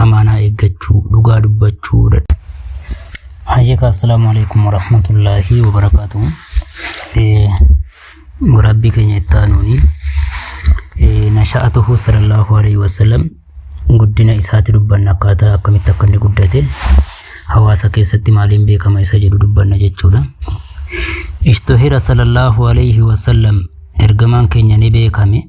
amaanaa eeggachuu dhugaa dubbachuu dadha. Hayyaka assalaamu alaikum warahmatullaahi wabarakaatu. Waraabbii keenya itti aanuuni nasha'atuhu sallallahu alaihi wasallam guddina isaati dubbanna akkaataa akkamitti akka inni guddate hawaasa keessatti maaliin beekama isa jedhu dubbanna jechuudha. Ishtuhira sallallahu alaihi wasallam ergamaan keenya ni beekame.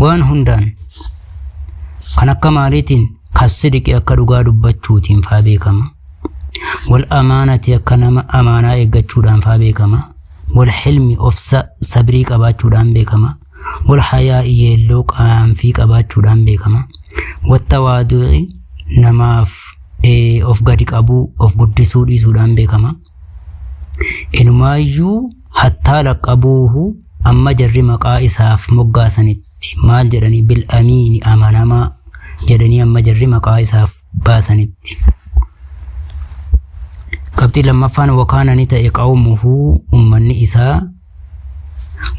Waan hundaan kan akka maaliitiin kassidiqi akka dhugaa dubbachuutiin faa beekama. Wal amaanati akka nama amaanaa eeggachuudhaan faa beekama. Wal hilmi ofsa sabrii qabaachuudhaan beekama. Wal hayaa yeelloo qaanfii qabaachuudhaan beekama. Watta waadu'i namaaf of gadi qabuu of guddisuu dhiisuudhaan beekama. Inumaayyuu hattaa laqqabuuhu amma jarri maqaa isaaf moggaasanitti maal jedhanii bil'amiini amanamaa jedhanii amma jarri maqaa isaaf baasanitti. Qabxii lammaffaan wakaana ni ta'e qawmuhu ummanni isaa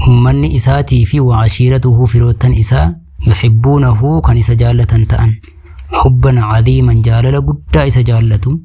ummanni isaatii fi waa ashiiratuhu firoottan isaa yuhibbuunahu kan isa jaallatan ta'an hubban cadiiman jaalala guddaa isa jaallatu.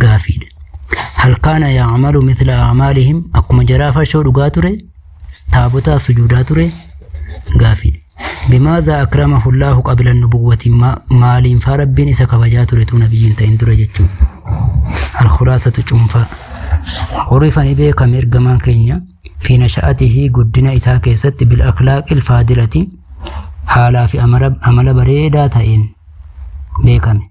gaafiidha. Hal kaana ya'malu mithla a'maalihim akkuma jaraa farshoo dhugaa ture taabotaaf sujuudaa ture gaafiidha. Bimaazaa akramahu Allaahu qabila nubuwwati maaliin faa rabbiin isa kabajaa ture tuu nabiyyiin ta'in dura jechuun. Alkhulaasatu cuunfaa. Horifani beekame ergamaan keenya fi nasha'atihi guddina isaa keessatti bil akhlaaqil faadilati haalaa fi amala bareedaa ta'een beekame.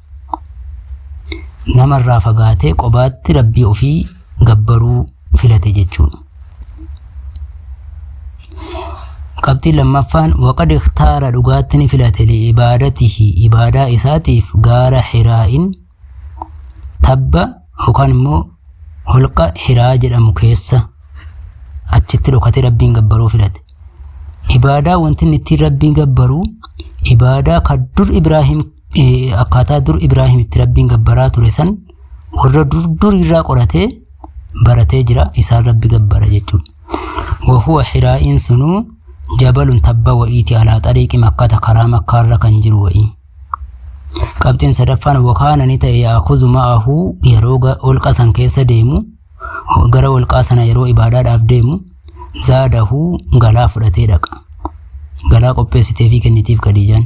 nama irraa fagaatee qobaatti rabbii ofii gabbaruu filate jechuudha. Qabxiin lammaffaan waqad ikhtaara dhugaatti ni filate li'ibaadatihi ibaadaa isaatiif gaara hiraa'in tabba yookaan immoo holqa hiraa jedhamu keessa achitti dhokatee rabbiin gabbaruu filate. Ibaadaa wanti inni ittiin rabbiin gabbaru ibaadaa kan dur Ibraahim akkaataa dur Ibraahim itti rabbiin gabbaraa ture san warra dur dur irraa qoratee baratee jira isaan rabbi gabbara jechuudha. Wahuwa hiraa'iin sunuu jabalun tabba wa'iiti alaa xariiqi makkata karaa makkaarra kan jiru wa'ii. Qabxiin sadaffaan wakaana ni ta'e yaakuzu ma'ahu yeroo olqa san keessa deemu gara olqaa sana yeroo ibaadaadhaaf deemu zaadahu galaa fudhatee dhaqa. Galaa qopheessitee fi kennitiif Khadiijaan.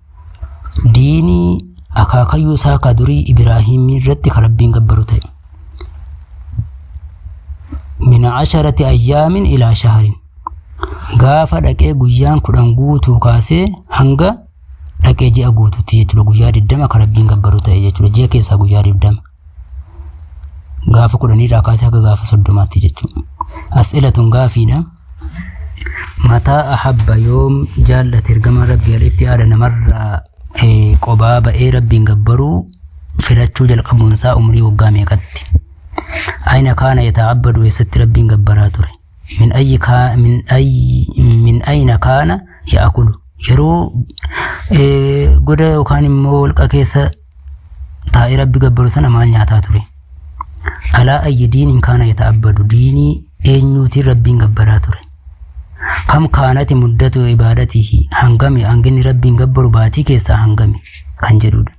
diinii akaakayyuu isaa ka durii Ibraahiimii irratti ka Rabbiin gabbaru ta'e. Min asharati ayyaamin ilaa shaharin. Gaafa dhaqee guyyaan kudhan guutuu kaasee hanga dhaqee ji'a guututti jechuudha. Guyyaa 20 ka Rabbiin gabbaru ta'e jechuudha. Ji'a keessaa guyyaa 20. gaafa kudhaniirraa kaasee haga gaafa soddomaatti jechuudha. As'ila tun gaafiidha. Mataa ahabba yoom jaallate ergamaan rabbii alitti haadha namarraa eh, qobaa ba'ee rabbiin gabbaruu filachuu jalqabuun isaa umrii waggaa meeqatti. Aina kaana yata'abbadu eessatti rabbiin gabbaraa ture. Min ayyi kaa min ayyi min aina kaana ya'akulu. Yeroo eh, goda yookaan immoo holqa keessa taa'ee rabbi gabbaru sana maal nyaataa ture alaa ayyi diiniin kaana yata'abbadu diinii eenyuutiin rabbiin gabbaraa ture kam kaanati muddatu ibaadatihi hangami hanginni rabbiin gabbaru baatii keessaa hangami kan jedhudha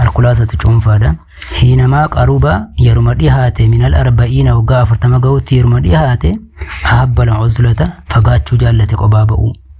alkulaasatu cuunfaadha hiinamaa qaruba yeruma dhihaate minal arba'iina waggaa afurtama ga'utti yeruma dhihaate ahabbala uzlata fagaachuu jaallate qobaa ba'uu